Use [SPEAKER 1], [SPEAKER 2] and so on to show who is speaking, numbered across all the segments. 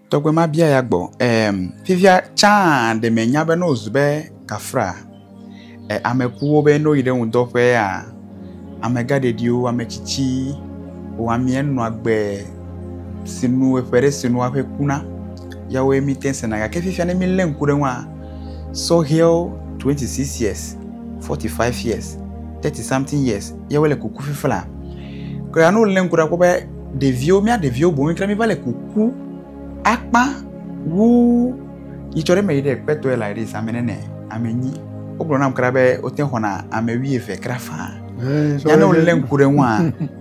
[SPEAKER 1] Tɔgbe ma bia ya gbɔ, em, fifia tsã ɖe me nya be ne wòzu be kafra, e, ame kuwo be ne woyi ɖe ŋudɔ ƒea, amegã ɖeɖiwo, ame tsitsi, o amie nɔa gbe si nu eƒe ɖe si nu aƒe kuna, ya woe mi te sena. Gake fifia ne mi lé ŋku ɖe ŋua, sɔhɛwo 26 years, 45 years, 30 something years, ya wole kuku fifla. Kura ne wòlé ŋku ɖe akpɔ be ɖeviwo, mía ɖeviwo boŋ fia míva le kuku akpa wu yi tsɔ ɖe eme yi ɖe kpetɔe la yi ɖe zãme nene ame nyi. Wogblɔ nam kra be wote xɔna ame wuieve kra faa. Ya ne wolé ŋku ɖe ŋua,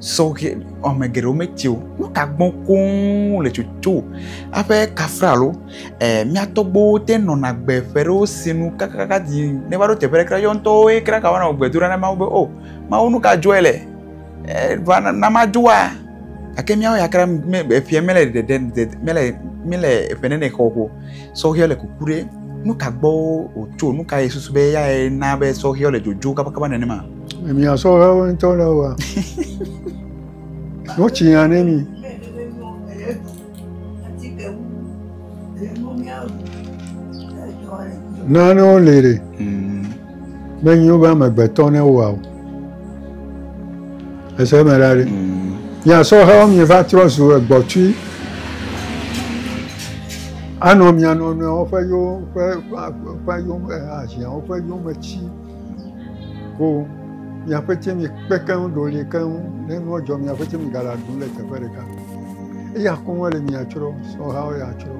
[SPEAKER 1] sɔhɛ ame geɖewo metsi o. Nu ka gbɔ koŋ le tsotso aƒe kafra alo eh, mía tɔgbuiwo te nɔna gbe ƒe ɖewo si nu kakakaka di ne va ɖo teƒe ɖe kra yɔ ŋutɔwoe kra gawana wò gbedoɖa na Mawu be, O Mawu, nu ka dzɔe le? va na madoa gake míawo ya kura me eƒea mele ɖeɖe dede mele mele eƒe nene xɔ o sɔhɛ le kuku ɖe nu ka gbɔ wòtso nu ka ye susu be eyae na be sɔhɛ le dzodzo kabakaba nenema. mia sɔhɛwo
[SPEAKER 2] ŋutɔ le wa nu tsi ya ne mi. Nanewo li ɖe menyi wobe amegbetɔ ne woa o. Ese eme ɖa ɖe. Mia sɔhɛwo mi va trɔ zu egbɔtui. Anɔ mia nɔnɔewo ƒe yo ƒe ƒe ƒe yome ahiã woƒe yome tsi. ko miaƒe tsɛ mi kpe keŋ ɖo li keŋ ne nua dzɔ miaƒe tsɛ mi ga la ɖu le teƒe ɖeka eya koŋ ele mia tsrɔ sɔha wo ya tsrɔ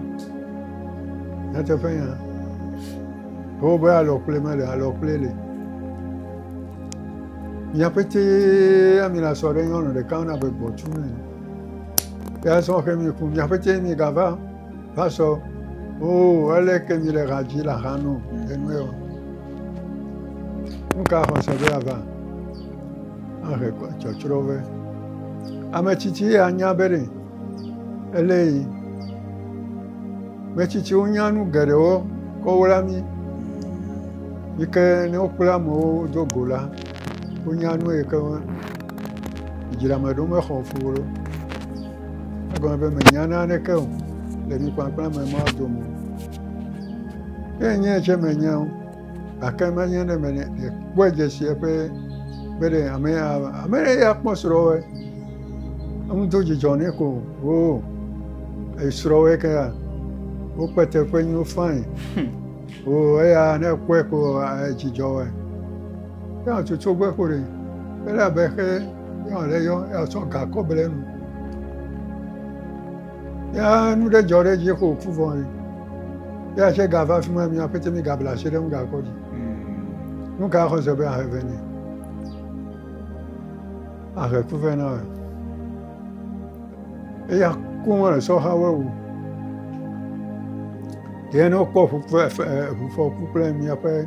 [SPEAKER 2] nyateƒe ya ko be alɔ kple me le alɔ kple le miaƒe tsɛ ami la sɔ ɖe nyɔnu ɖeka na be gbɔtu ne ya sɔ xe mi ku miaƒe tsɛ mi ga va Pasɔ, oo, ele ke mi le ɣadzi le axa nu enue o. Nu ka xɔse be ava ahe tsɔtsrɔ be ame tsitsi ya nya be ɖe ele yi. Metsitsiwo nya nu geɖewo kɔ wla mi. Yi ke ne wokpla amewo do go la, wonya nu yi ke dzrame ɖo mexɔ fu o. Egɔme be mènya naneke o, le ŋukpakpla me mado mo. Ke nye tsɛ menya o, gake menye ne mele kpɔe dze si eƒe be ɖe ame ya ava. Ame ɖe ya kpɔ srɔ̃wɔe, eŋu do dzidzɔ nɛ ko hoo esrɔ̃wɔe ke ya wokpe teƒe nyiwo fain hoo eya ne ekpɔe ko edzidzɔ wɔe. Ke atutu gbe ko ɖe ele abe xe. Nyɔnu aɖe yɔ asɔ ga kɔ ble nu. Ya nu ɖe dzɔ ɖe dzi xo ku vɔ yi. Ya se ga va fi ma mi aƒete mi ga bla se ɖe nu ga kɔ dzi. Hmm. Nu ka xɔ se be ahe ve ne. Ahe ku ve na. Eya ku mo le sɔ ha we wu. Ye no kpɔ fu fe fu fɔ ku kple mi aƒe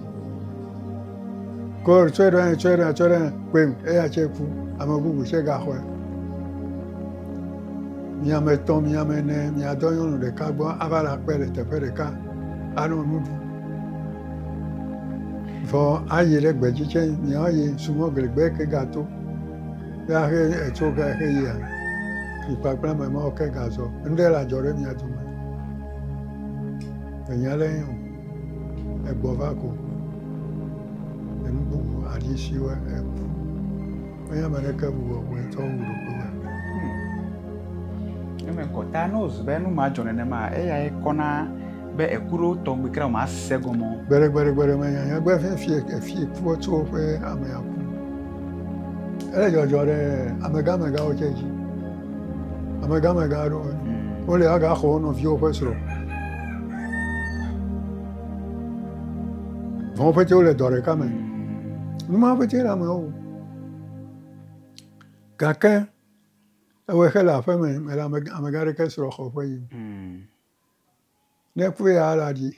[SPEAKER 2] Kor tsɔe ɖo anyi, tsɔe ɖo anyi, tsɔe ɖo anyi kpem eya tsɛ ku. Ame bubu tsɛ gaxɔe. Mi ame etɔ̃, mi ame ene, miadɔ nyɔnu ɖeka gbɔ ava le akpe le teƒe ɖeka anɔ nu ɖum. Vɔ ayi ɖe gbedzi tsɛ miayi sumɔgli gbe ke gato ye ahe etso ke ahe yia, mi kpakple ame mawo ke gazɔ. Ŋɖe le adzɔ ɖe mia dome. Enya ɖe ye o. egbɔ va ko enu bubu aɖi si wɔ eku. Menye ame ɖeke bu wɔ wòe tsɔ wu ɖokui
[SPEAKER 1] me. Eme kɔta ne wòzu be nu ma dzɔ nenema eyae kɔna be eku ɖewo tɔ ŋgbe kura ma se gɔme o. Gbeɖegbeɖegbeɖe menya
[SPEAKER 2] nya gbe fia fie efie kua tso woƒe amea ku. Ele dzɔdzɔ ɖe amegãmegãwo tsɛ dzi. Amegamega aɖewo mm. wole agaxɔ wo nɔviwo ƒe srɔ̃. Vɔwo ƒete wole dɔ ɖeka me. Mm. Numa ƒete le ame wo. Gake ewɔe xe le aƒeme mele amega ɖeke srɔ̃ xɔ ƒe yi. Mm. Ne ku ya la ɖi.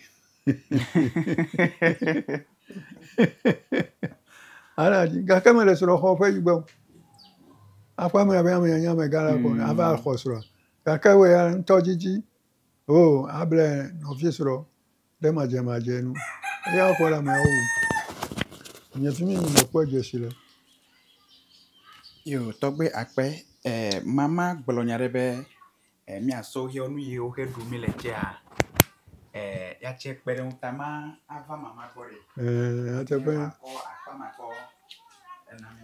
[SPEAKER 2] Ala ɖi gake mele srɔ̃ xɔ ƒe yi gbɔ. Aƒe me abe ame nyanya amegã la ko ava mm. xɔ srɔ̃. Gake wɔ ya ŋutɔ didi. O oh, able nɔvi srɔ̃. Ɖe madzemadze nu eya ƒe le ameawo wum. Nye fi mi mekpɔ dzesi le.
[SPEAKER 1] Yoo, tɔgbe akpe e mama gblɔ nya ɖe be e míasɔ woƒe nu yiwo xe ɖu mí le tsɛa e yatse kpe ɖe ŋu ta ma ava mama gbɔ ɖe. Ee, nyateƒe. Akɔ
[SPEAKER 2] akpa ma kɔ
[SPEAKER 1] ena mí.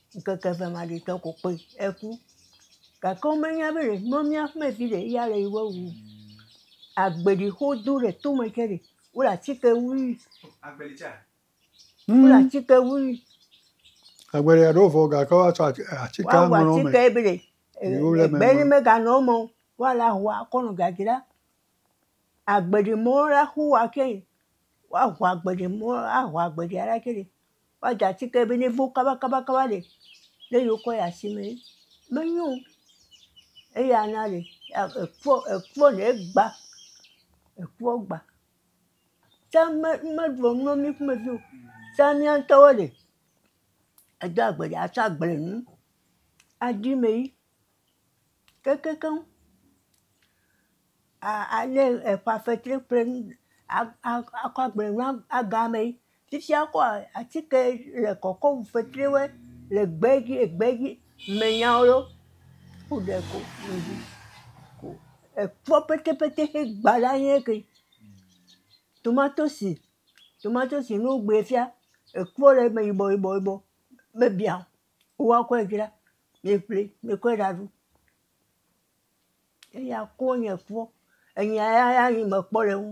[SPEAKER 3] Ŋkeke eve maɖitɔ ko kpoe eku. Gake womenya be ɖe mɔ mía ƒe vi ɖe ya le yewo wu. Agbeli xo do ɖe tome ke ɖe wo le atike wui.
[SPEAKER 1] Agbeli tsa. Wo le
[SPEAKER 3] atike wui.
[SPEAKER 2] Agbeli aɖo vɔ gake woa tsɔ atike ŋlɔ me. Woa wɔ atike be ɖe
[SPEAKER 3] egbe ne me ga nɔ eme o woa la ŋua kɔ nɔ dzadzra. Agbeli mɔ la xo wa ke woa ŋu agbeli mɔ la ŋu agbeli la ke ɖe. woadza atike be nevo kabakabakaba ɖe ne yewokɔ yi asimee menyo o. Eya na ɖe ekpɔ ekpɔ ɖe egba ekpɔ gba. Tsã me meɖɔ nu na mí ƒomevi o. Tsã mía ŋutɔwo ɖe edo agbe ɖe atsɔ agble nu aɖi mee keŋkeŋkeŋ. alé eƒa fetri pleŋ akɔ agble na agamɛ. Fifia ekɔa atike le kɔkɔm fetriwoe le gbe dzi egbe dzi me nyao ɖo ku ɖe ko eŋu ko ekpɔ petepete xe gba la nye ke. Tomatosi, tomatosi ne wogbɛ fia ekpɔ le eme yibɔ yibɔ yibɔ mebiã o. Woakɔe dzra miƒli mikɔe ɖaɖu. Eya kɔ nye kpɔ, enya ya
[SPEAKER 1] ya
[SPEAKER 3] nye mekpɔ le eŋu.